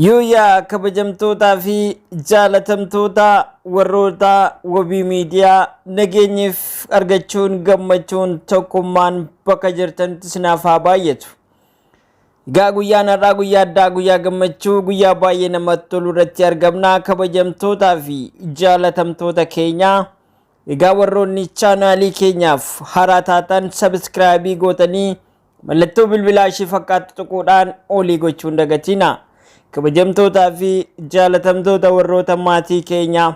Yooyaa kabajamtootaa fi jaalatamtoota warroota wabii miidiyaa nageenyiif argachuun gammachuun tokkummaan bakka jirtanitti isinaaf haa baay'atu. Egaa guyyaan har'aa guyyaa addaa guyyaa gammachuu guyyaa baay'ee namatti tolu irratti argamna kabajamtootaa fi jaalatamtoota keenya. Egaa warroonni chaanaalii keenyaaf haaraa taatan sabiskiraayibii gootanii mallattoo bilbilaa ishee fakkaattu tuquudhaan olii gochuu hin dagatina. Kabajamtootaa fi jaalatamtoota warroota maatii keenyaa.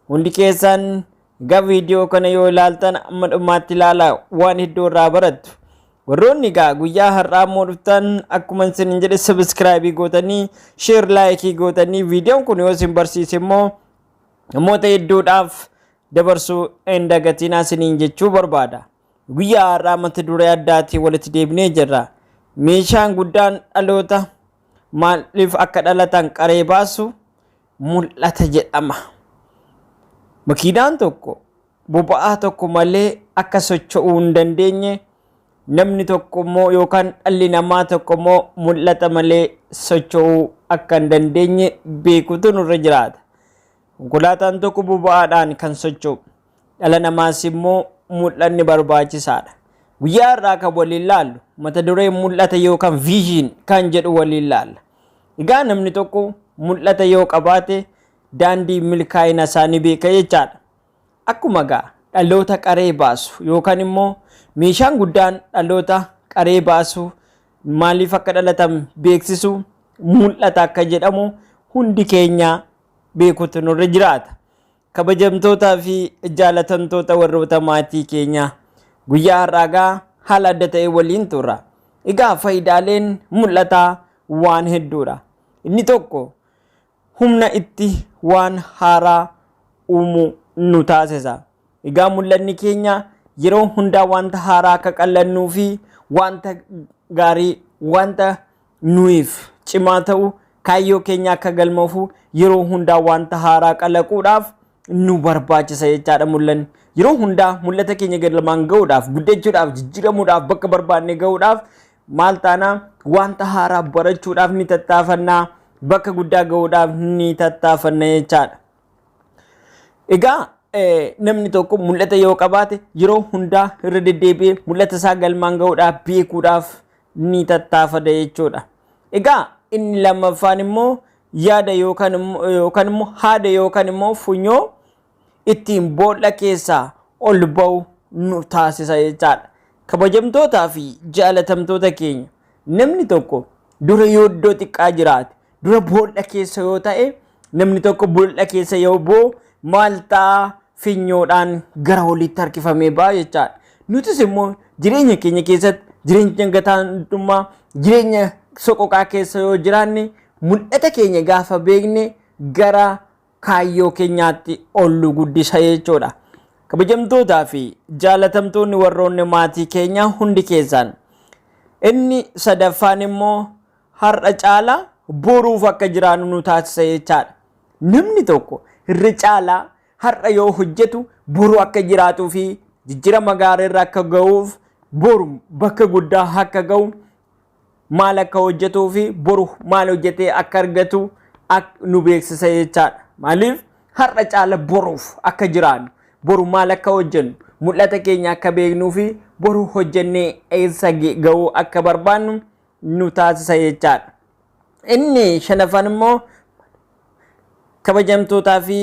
Hundi keessan egaa viidiyoo kana yoo ilaaltan amma dhumaatti ilaala waan hedduu irraa barattu. Warroonni egaa guyyaa har'aa immoo dhuftan akkuma isin jedhe sabiskiraayibii gootanii sheer laayikii gootanii viidiyoon kun yoo isin barsiise immoo namoota hedduudhaaf dabarsuu hin dagatinaa isiniin jechuu barbaada. Guyyaa har'aa mata duree addaatiin walitti deebinee jirra. Meeshaan guddaan dhaloota maaliif akka dhalatan qaree baasu mul'ata jedhama. Makiinaan tokko boba'aa tokko malee akka socho'uu hin dandeenye namni tokko immoo yookaan dhalli namaa tokko immoo mul'ata malee socho'uu akka hin dandeenye beekuutu nurra jiraata. Konkolaataan tokko boba'aadhaan kan socho'u dhala namaas immoo mul'anni barbaachisaadha. Guyyaa har'aa kan waliin laallu mata duree mul'ata yookaan vision kan jedhu waliin laalla. Egaa namni tokko mul'ata yoo qabaate daandii milkaa'ina isaa ni beeka jechaadha. Akkuma gaa dhaloota qaree baasu yookaan immoo meeshaan guddaan dhaloota qaree baasu maaliif akka dhalatan beeksisu mul'ata akka jedhamu hundi keenya beekutu nurra jiraata. Kabajamtootaa fi jaalatamtoota warroota maatii keenya guyyaa har'aagaa haala adda ta'e waliin turra. Egaa faayidaaleen mul'ataa waan hedduudha. Inni tokko humna itti waan haaraa uumu nu taasisa. Egaa mul'anni keenya yeroo hundaa wanta haaraa akka qallannuu fi wanta gaarii wanta nuyiif cimaa ta'u kaayyoo keenya akka galmoofu yeroo hundaa wanta haaraa qalaquudhaaf nu barbaachisa jechaadha mul'anni. Yeroo hundaa mul'ata keenya galmaan ga'uudhaaf, guddachuudhaaf, jijjiiramuudhaaf, bakka barbaanne ga'uudhaaf maal taana wanta haaraa barachuudhaaf ni tattaafannaa, bakka guddaa ga'uudhaaf ni tattaafanna jechaadha. Egaa namni tokko mul'ata yoo qabaate yeroo hundaa irra deddeebi'ee mul'ata isaa galmaan ga'uudhaaf beekuudhaaf ni tattaafata jechuudha. Egaa inni lammaffaan immoo yaada yookaan immoo haada yookaan immoo funyoo ittiin boolla keessaa ol ba'u nu taasisa jechaadha. Kabajamtootaa fi jaalatamtoota keenya namni tokko dura yooddoo xiqqaa jiraate dura boolla keessa yoo ta'e namni tokko boolla keessa yoo bu'u maal ta'a finyoodhaan gara oliitti harkifamee ba'a jechaadha. Nutis immoo jireenya keenya keessatti jireenya gataantummaa jireenya soqoqaa keessa yoo jiraanne mul'ata keenya gaafa beekne gara kaayyoo keenyaatti ol nu guddisa jechuudha. Kabajamtootaa fi jaalatamtoonni warroonni maatii keenyaa hundi keessaan inni sadaffaan immoo har'a caalaa boruuf akka jiraannu nu taasisa jechaadha. Namni tokko irra caalaa har'a yoo hojjetu boru akka jiraatuu fi jijjirama gaarii irra akka ga'uuf boru bakka guddaa akka ga'u maal akka hojjetuu fi boru maal hojjetee akka argatu nu beeksisa jechaadha. Maaliif har'a caala boruuf akka jiraannu boru maal akka hojjennu mul'ata keenya akka beeknuu fi boru hojjennee eessa ga'uu akka barbaannu nu taasisa jechaadha. Inni shanaffaan immoo kabajamtootaa fi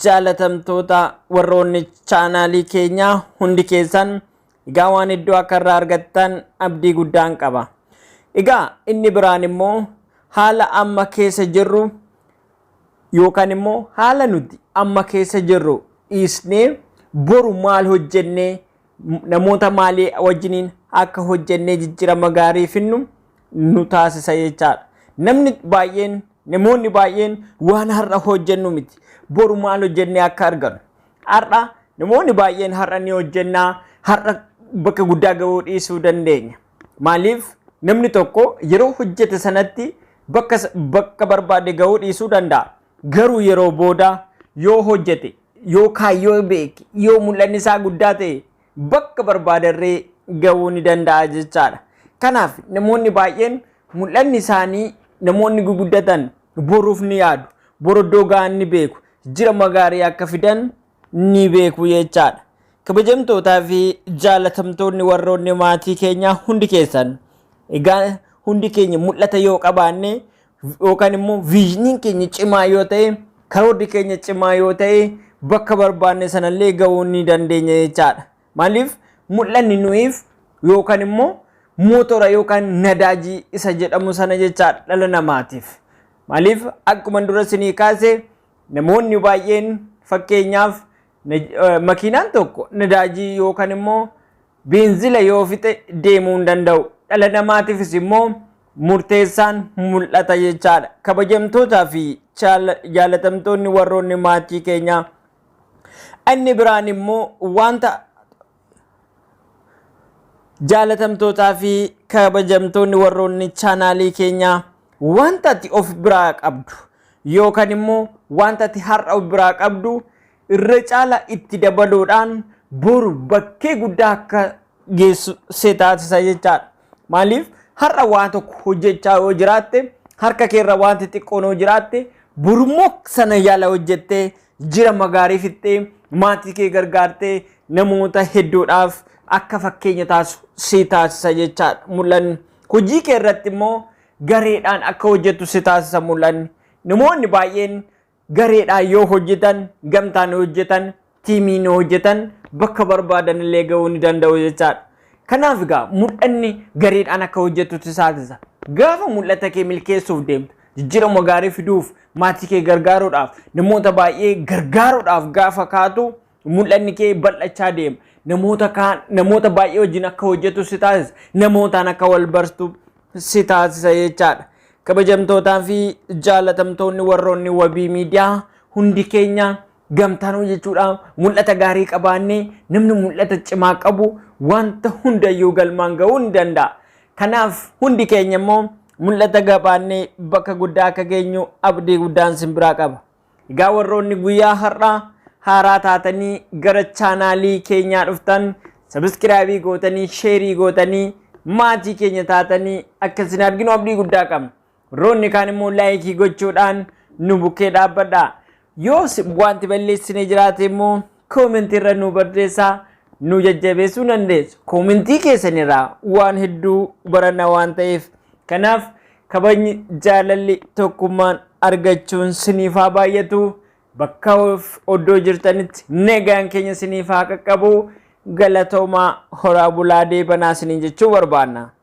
jaalatamtoota warroonni chaanaalii keenyaa hundi keessan egaa waan hedduu akka irraa argattan abdii guddaan qaba. Egaa inni biraan immoo haala amma keessa jirru yookaan immoo haala nuti amma keessa jirru dhiisnee boru maal hojjennee namoota maalii wajjiniin akka hojjennee jijjirama gaarii finnu nu taasisa jechaadha. Namni baay'een namoonni baay'een waan har'a hojjennu miti. Boru maal hojjennee akka arganu. Har'a namoonni baay'een har'a ni hojjennaa har'a bakka guddaa ga'uu dhiisuu dandeenya. Maaliif namni tokko yeroo hojjete sanatti bakka barbaade ga'uu dhiisuu danda'a. Garuu yeroo booda yoo hojjete yoo kaayyoo beeke yoo mul'anni isaa guddaa ta'e bakka barbaadarree ga'uu ni danda'a jechaadha. Kanaaf namoonni baay'een mul'anni isaanii namoonni guguddatan boruuf ni yaadu. Bor iddoo ga'an ni beeku. Jirama gaarii akka fidan ni beeku jechaadha. Kabajamtootaa fi jaalatamtoonni warroonni maatii keenyaa hundi keessan egaa hundi keenya mul'ata yoo qabaanne yookaan immoo viizhiniin keenya cimaa yoo ta'e karoorri keenya cimaa yoo ta'e bakka barbaanne sanallee ga'uu ni dandeenya jechaadha. Maaliif mul'anni nuyiif yookaan immoo mootora yookaan nadaajii isa jedhamu sana jechaadha dhala namaatiif. Maaliif akkuma dura isinii kaase namoonni baay'een fakkeenyaaf makiinaan tokko nadaajii yookaan immoo beenzila yoo fixe deemuu hin danda'u. Dhala namaatiifis immoo murteessaan mul'ata jechaadha. Kabajamtootaa fi jaalatamtoonni warroonni maatii keenyaa inni biraan immoo wanta jaalatamtootaa fi kabajamtoonni warroonni chaanaalii keenyaa wanta ati of biraa qabdu yookaan immoo wanta ati har'a of biraa qabdu irra caala itti dabaluudhaan boru bakkee guddaa akka geessu si taasisa jechaadha. Maaliif har'a waa tokko hojjechaa yoo jiraatte harka keerra wanti xiqqoon yoo jiraatte borummoo sana yaala hojjettee jira magaarii fixxee maatii kee gargaartee namoota hedduudhaaf akka fakkeenya taasisu si taasisa jechaadha mul'anni. Hojii kee irratti immoo gareedhaan akka hojjettu si taasisa mul'anni. Namoonni baay'een Gareedhaan yoo hojjetan, gamtaan yoo hojjetan, tiimiin yoo hojjetan bakka barbaadan illee ga'uu ni danda'u jechaadha. Kanaaf egaa mul'anni gareedhaan akka hojjettu si taasisa. Gaafa mul'ata kee milkeessuuf deemtu, jijjiirama gaarii fiduuf, maatii kee gargaaruudhaaf, namoota baay'ee gargaaruudhaaf gaafa kaatu Mul'anni kee bal'achaa deema. Namoota kaan namoota baay'ee wajjin akka hojjetu si taasisa. Namootaan akka wal bartu si taasisa jechaadha. Kabajamtootaa fi jaalatamtoonni warroonni wabii miidiyaa hundi keenya gamtaan hojjechuudhaan mul'ata gaarii qabaannee namni mul'ata cimaa qabu wanta hundayyuu galmaan ga'uu ni danda'a. Kanaaf hundi keenya immoo mul'ata qabaannee bakka guddaa akka geenyu abdii guddaan sin biraa qaba. Egaa warroonni guyyaa har'aa haaraa taatanii gara chaanaalii keenyaa dhuftan sabiskiraabii gootanii sheerii gootanii maatii keenya taatanii akka isin arginu abdii guddaa qabna. Warroonni kaan immoo laayikii gochuudhaan nu bukkee dhaabbadha. Yoos wanti balleessine jiraate immoo Comment irra nu barreessaa nu jajjabeessuu dandeessu. Koomentii keessan irraa waan hedduu baranna waan ta'eef. Kanaaf kabajni jaalalli tokkummaan argachuun siniif haa baay'atu. Bakka of- oddoo jirtanitti nagaan keenya siniif haa qaqqabu. Galatoomaa horaa bulaa deebanaa siniin jechuu barbaanna.